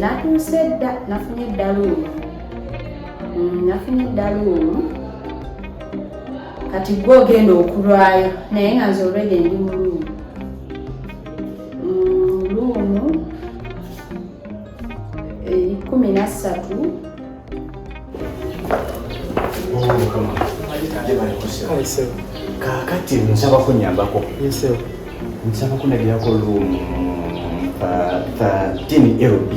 natuuse dda nafunye eddaluumu mm, nafunye eddaluumu kati gwe ogenda okulwayo naye nga nze olwede ndi mu luumu mm, luumu eh, kumi nassatu kakati nsaba kunyambako nsaba kunagirako room 13 lb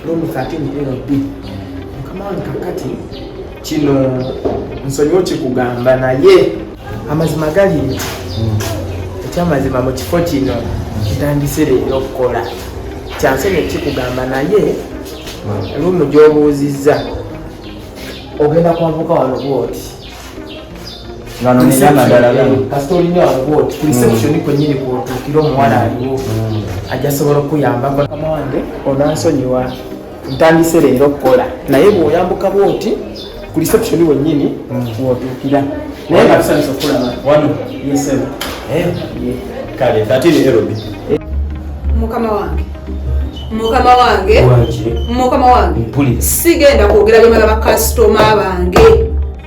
room 13 lb mukama wange kakati kino nsonyiwo kikugamba naye amazima gali hmm. ekyamazima mu kifo kino kitandise leero okukola kyansonyi ekikugamba naye hmm. lumu gyobuuzizza ogenda kwavuka wano bwoti kasita olina wano bwoti ku reception hmm. kwenyini kwotuukira omuwala aliwo ajja sobola okukuyambako mama wange onansonyiwa ntandise leero okukola naye bwoyambuka bwoti ku reception wenyini wotuukira naye nga tusanyusa okulaba wano yesebo eh, kale tatini erobi mukama wange mukama wange mukama wange sigenda kwogera byemala bakasitoma bange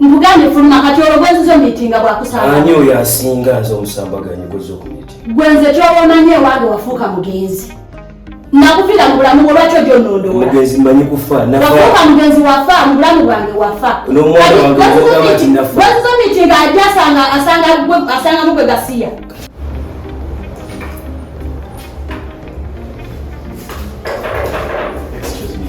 nkugambye fuluma kati olwo gwenziza omitinga bwakusanga ani oyo asinga nze omusambaganyi gwezza okumitinga gwenze kyobaomanyi ewange wafuuka mugenzi nakufira mu bulamu bwo lwaki ojo nondoomugenzi manyi kufa wafuuka mugenzi wafa mu bulamu bwange wafa gwenziza omitinga ajja asanga mugwe gasiya Excuse me,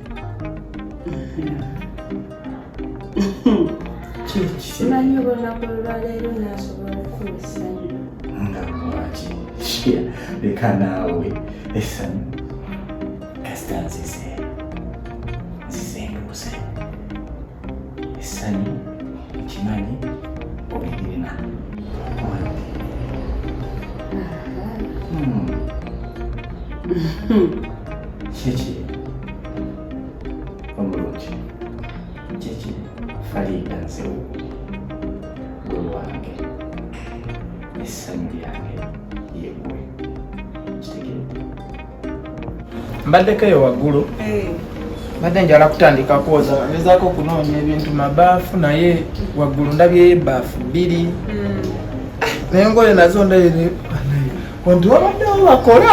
simanyi oba olunaku olwaleero nasobola okukola essanyu nga lwaki leka naawe essanyu kasita nzize essanyu ekimanyi obirina kiki omulungi kiki faliida nzewu gwe wange essanyu lyange mbaddeko eyo waggulu eh. mbadde njala kutandika kwoza ngezaako okunoonya ebintu mabaafu naye waggulu ndabyeyo ebaafu bbiri hmm. naye ngoye nazo ndayere onti wabaddewo bakola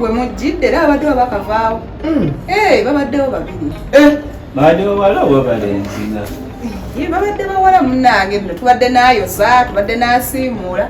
we mujjidde era babaddewo bakavaawo hmm. eh, babaddewo babiri eh. babaddewo wala oba balenzina babadde bawala munange bino tubadde nayoza tubadde nasiimuula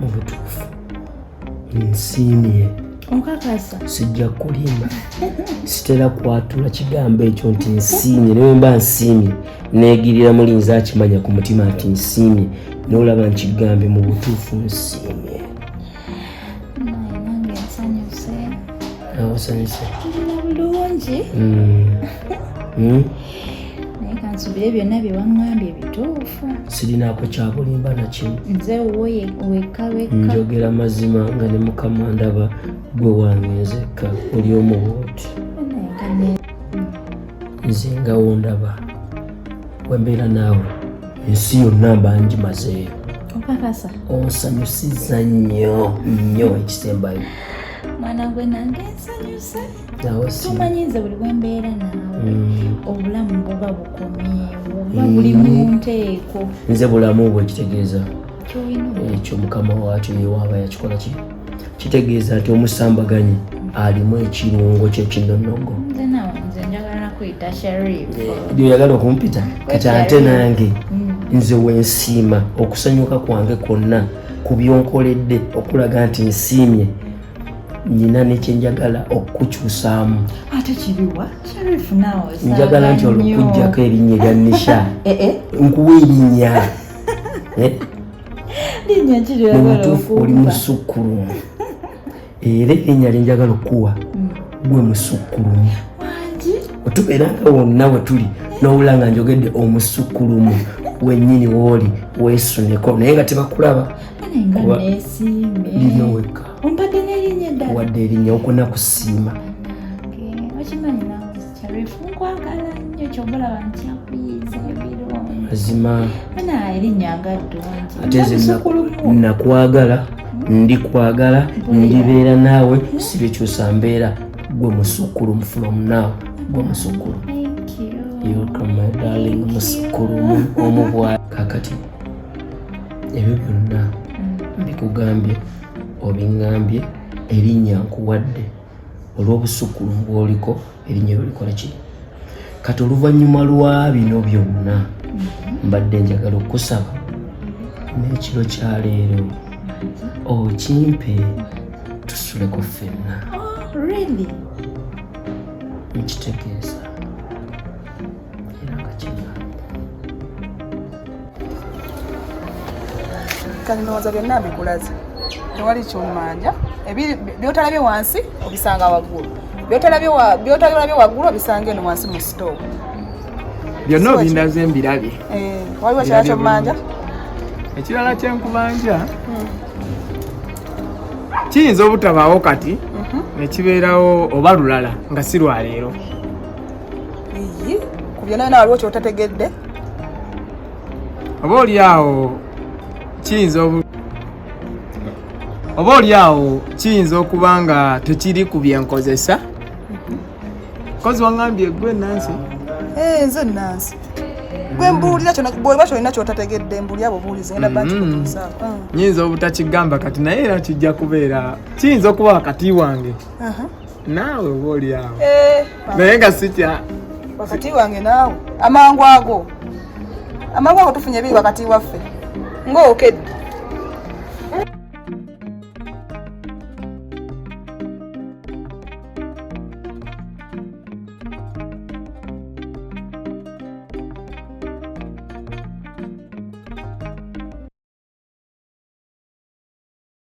mu butuufu nsiimye okakasa sijja kulimba sitera kwatula kigambo ekyo nti nsiimye naye mba nsiimye negirira mulinza akimanya ku mutima nti nsiimye nolaba nkigambye mu butuufu nsiimye osanyuse bulungi naye kansubire byonna byewaŋambye bituufu sirinaako kyabulimba nakimu nze wekawekkanjogera mazima nga ne mukama ndaba gwe wange nzekka oli omuwooti nze ngawo ndaba wembeera naawe ensi yonna bangi mazeeyo okakasa onsanyusiza nnyo nnyo ekisembayo mwana gwe nange nsanyuse tomanyize buli bwembeera naawe mm. obulamu buba bukomyewo mm. buli munteeko nze bulamu bwekitegeeza ekyo mukama wakyo yewaaba yakikola ki kitegeeza nti omusambaganyi alimu ekirungo kyekinonogo oyagala okumpita kati ate nange mm. nze wensiima okusanyuka kwange kwonna ku byonkoledde okulaga nti nsiimye nina nekyenjagala okukukyusaamu ate kibiwa sharifu nawe njagala nti olwokujjako erinnya erya nisha eh, eh. nkuwa erinnya eh? mubutuufu oli musukkulumu era erinnya linjagala okukuwa mm. gwe musukkulumu otubeera nga wonna we tuli nowula nga njogedde omusukkulumu wenyini wooli weesuneko naye nga tebakulaba lino wekka wadde erinnya okuna kusiima Sharifu nkwagala nnyo kyova olaba nkyakuyiiza ebirungi mazima ana erinnya nga ddungi ate nze nakwagala ndi kwagala ndibeera naawe sibikyusa mbeera gwe musukkulumu from now gwe musukkulu yokamadalin musukkulumu omubwa kakati ebyo byonna mm. mbikugambye obiŋambye erinnya nkuwadde olw'obusukkulumu bw'oliko erinnya eryo likola ki kati oluvannyuma lwa bino byonna mbadde njagala okukusaba n'ekiro kya leero okimpe tusuleko ffenna oh, nkitegeeza kati ndowooza byonna mbikulaze tewali kyomanja byotalabye wansi obisanga waggulu byotalabye waggulu obisanga eno wansi mu sitoo byonna obindaze mbirabye eh, waliwo kirala kyomanja ekirala kyenkubanja hmm. kiyinza obutabaawo kati mhm. nekibeerawo oba lulala nga si lwaleero ku byona byona waliwo kyotategedde oba oli awo kiyinza oba oli awo kiyinza okuba nga tekiri ku byenkozesa kozi wangambye gwe nansi eh, nze nansi gwe mbuulira bweba kyolina kyotategedde mbuulira bubuulizi ngenda bakikutuusaako mm-hmm. mm. nyinza obutakigamba kati naye era kijja kubeera kiyinza okuba wakati wange uh-huh. naawe oba oli awo eh, naye nga sikya wakati wange naawe amangu ago amangu ago tufunye biri wakati waffe ng'okedde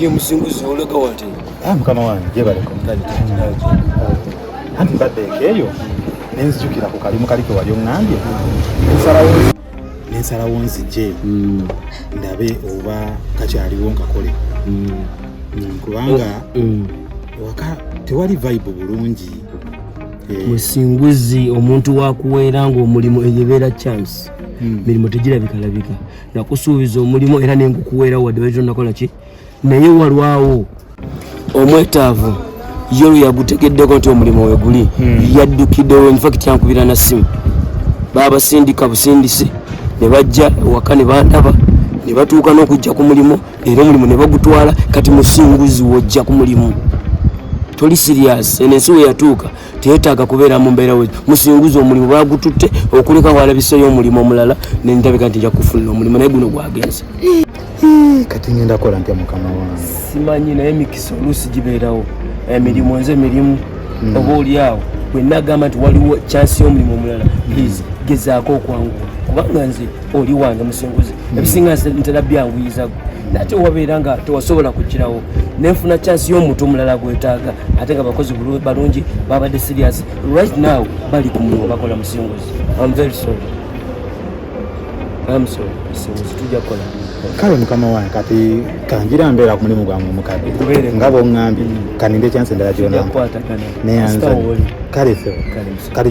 ye musinguzi olega wati ah, mukama wange jebaleko anti mbadde ekeeyo nenzijukira ku kalimu kali ke wali oŋŋambye nsalawo nensalawo nzije mm. ndabe oba kakyaliwo nkakole mm. mm, kubanga oh, waka tewali vibe bulungi eh. musinguzi omuntu wakuweera ngaomulimu eyo ebeera chance mirimu tegirabikalabika nakusuubiza omulimu era nengukuweera wadde waizo nakola ki naye walwawo omwetaavu ye olwo yagutegeddeko nti omulimu weguli hmm. yaddukiddewo infact yankubira na simu baabasindika busindisi ne bajja ewaka ne bandaba ne batuuka n'okujja ku mulimu era omulimu ne bagutwala kati musinguzi wojja ku mulimu toli sirias eno ensi we yatuuka teyetaaga kubeera mu mbeera we musinguzi omulimu bagututte okuleka walabiseyo omulimu omulala nendabika nti nja kufunira omulimu naye guno gwagenze kati ngenda kola ntya mukama wange simanyi naye emikisa oluusi gibeerawo emirimu nze emirimu hmm. oba oli awo bwenna agamba nti waliwo kyansi y'omulimu omulala please gezaako okwanguwa kubanga nze oli wange musinguzi hmm. ebisinga ntera byanguyizago nate wabeera nga tewasobola kukirawo nenfuna kyansi y'omuntu omulala gwetaaga ate nga bakozi balungi babadde serious right now bali ku mulimu bakola musinguzi am very sorry kale mukama wange kati kanjira mbeera ku mulimu gwange omukadde nga bwoŋŋambye mm. kaninde kyansi endala gyonampa neyanza kale fe kati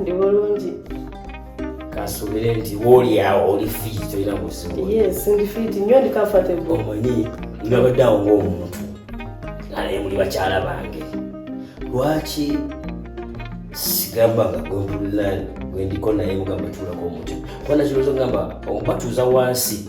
ndi bulungi kasubire nti wooli awo oli fiiti tolina buzibu yes ndi fiiti nnyo ndi comfortable omanyi nabadde awo ng'omuntu naye muli bakyala bange lwaki sigamba nga gwempulira gwendiko naye mugamba tuulako omuti kuba nakirowoozo ngamba obatuuza wansi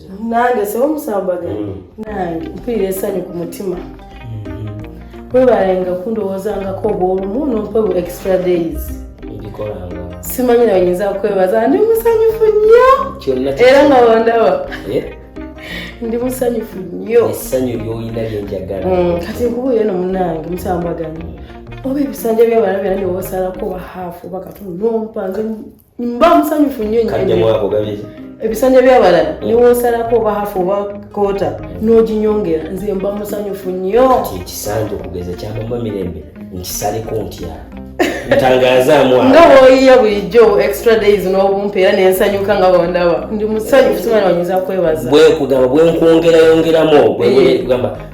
nange sebo musambaga mm. nange mpulira esanyu ku mutima mm-hmm. webalenga kundowoozangako obwolumu nompa bu extra days simanyi nawe nyinza kwebaza ndi musanyufu nnyo era nga wandaba eh? ndi musanyufu nnyo esanyu lyolina lyenjagala mm, kati nkubuuyo no munange musambaganyi oba ebisanja byabalabyana newosalako bahafu bakatu nompa nze mba musanyufu nnyo ebisanja byabalala mm. niwosalako oba hafu oba kota mm. noginyongera nze mba musanyufu nnyo ekisanja okugeza kyamama mirembe nkisaleko ntya nga woyiya bulijjo extra days n'obumpa era nensanyuka nga bondaba ndi musanyufu simana wanyuza kwebaza bwekugamba bwenkwongerayongeramu ogwegamba eh.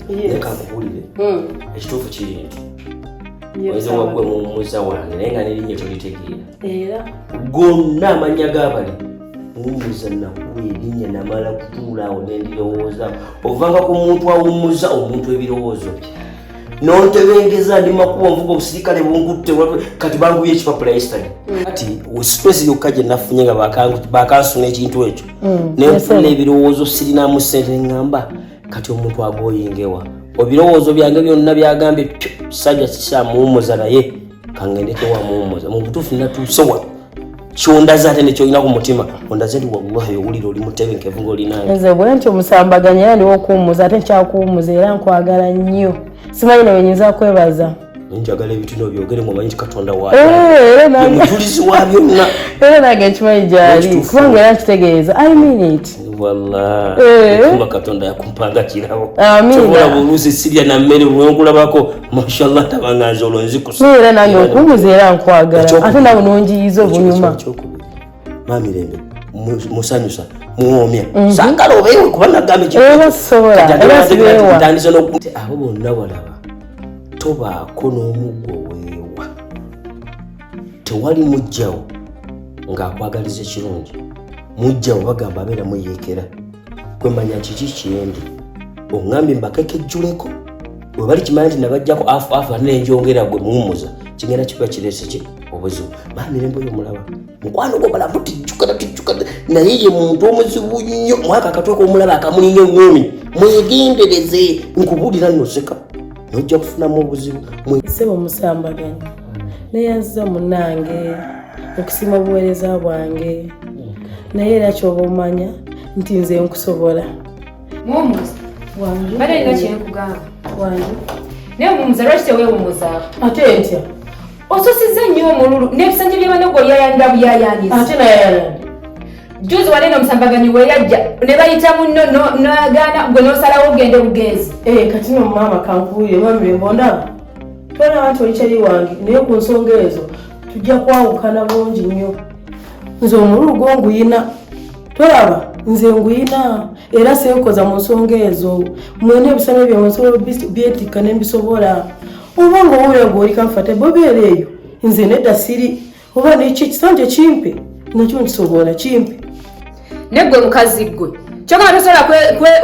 leka nkubuulire hmm. ekituufu kiri nti oyinza wagwe mumuza wange naye nga nerinnya tolitegeera gonna amannya g'abali wumuza nakuwa erinnya namala kutuula awo nendirowooza ovanga ku muntu awummuza omuntu ebirowoozo bye nontebengeza ndi makuba nvuga obusirikale bungutte kati banguye ekipapula yesitali hmm. kati sipesi yokka gye nafunye nga bakansuna ekintu ekyo hmm. nenfuna ebirowoozo sirinamu sente ngamba kati omuntu agoyingewa ebirowoozo byange byonna byagambye kisajja kisamuwumuza naye kangendekewamuwumuza mubutuufu natuusewa kyondaze ate nekyolina ku mutima ondaze nti wallahi owulira oli mutebenkevu ngaolinanze bwe nti omusambaganya era ndiwo okuwumuza ate nkyakuwumuza era nkwagala nnyo simanyi nawe nyinza kwebaza njagala ebitino byogere mumanyi nti katonda wamujulizi eh, wa byonna era nange nkimanyi gyali kubanga era nkitegeeza i mean it walla eh. kuma katonda yakumpanga kirawo kyobola buluzi sirya na mmere wenkulabako mashallah tabanganza olwo nzikusa era nange okumbuza era nkwagala ate nawe nonjiyiza obunyuma maami lembe musanyusa muwoomya mhm. sagala obeewe kuba nagambekitandise nokuti abo bonna walaba tobaako n'omuggo weewa tewali mujjawo ng'akwagaliza ekirungi mujjawo bagamba abeera muyeekera kwemanya kiki kyendi oŋambye mbakekejjuleko bwe bali kimanya nti nabajjako afu afu ate nenjongera gwe muwumuza kigenda kiba kirese ki obuzibu maa mirembe oyo mulaba mukwano gwo balamu tijjukana tijjukana naye ye muntu omuzibu nnyo mwaka akatweka omulaba akamulinga eŋumi mwegendereze nkubuulira noseka nojja kufunamu obuzibu sebo musambaganya neyanziza munange okusima obuweereza bwange naye era kyoba omanya nti nze nkusobola ate ntya osusiza nnyo omululu n'ebisanja byabana gwe oyayanira buyayanira juzi wali no musambaganyi weyajja ne bayita munno noyagaana gwe nosalawo ogende bugenzi eh, kati no maama kankuye mamimbondaba tolaba nti olikyali wange naye ku nsonga ezo tujja kwawukana bungi nnyo nze omululu gwo nguyina tolaba nze nguyina era senkoza mu nsonga ezo mwena ebisale byawe nsobola byetikka nembisobola oba nga owulira gwe oli kanfate bobeera eyo nze nedda siri oba neki ekisanja kimpe nakyo nkisobola kimpe neggwe mukazi ggwe kyogamba tosobola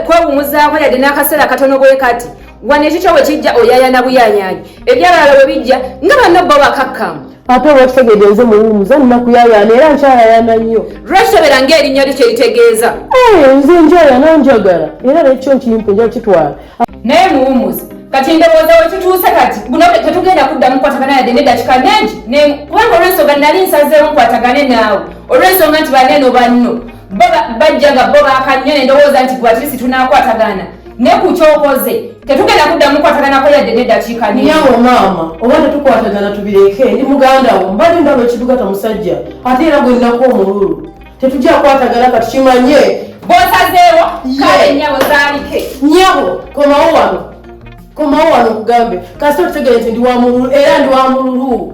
kwewumuzaako yadde n'akaseera katono bwe kati wano ekikyo bwe kijja oyayana buyayanyi ebyabalala bwe bijja nga banno bo bakakkamu ate olwakitegede nze muwumuza nina kuyayana era nkyayayana nnyo lwekitobera ngaerinnya lyo kye litegeeza eh, nze njayana njagala era nekyo nkimpe nja kitwala naye muwumuzi kati ndowooza wetutuuse kati buno tetugenda kuddamu kukwatagana yadde nedakika nengi kubanga olwensonga nali nsazeewo nkwatagane naawe olwensonga nti baneno banno bajja nga bo bakannyo nendowooza nti gwatirisi tunakwatagana ne ku kyokoze tetugenda kuddamu kukwataganako yadde nedakika nyawo maama oba tetukwatagana tubireke ndi muganda wo mbadde ndaba ekitugata musajja ate era gwennaku omululu tetujja kwatagana katukimanye bosazeewo kale nyabo zaalike nyabo komawo wano komawo wano okugambe kasi otutegere nti ndi wa mululu era ndi wa mululu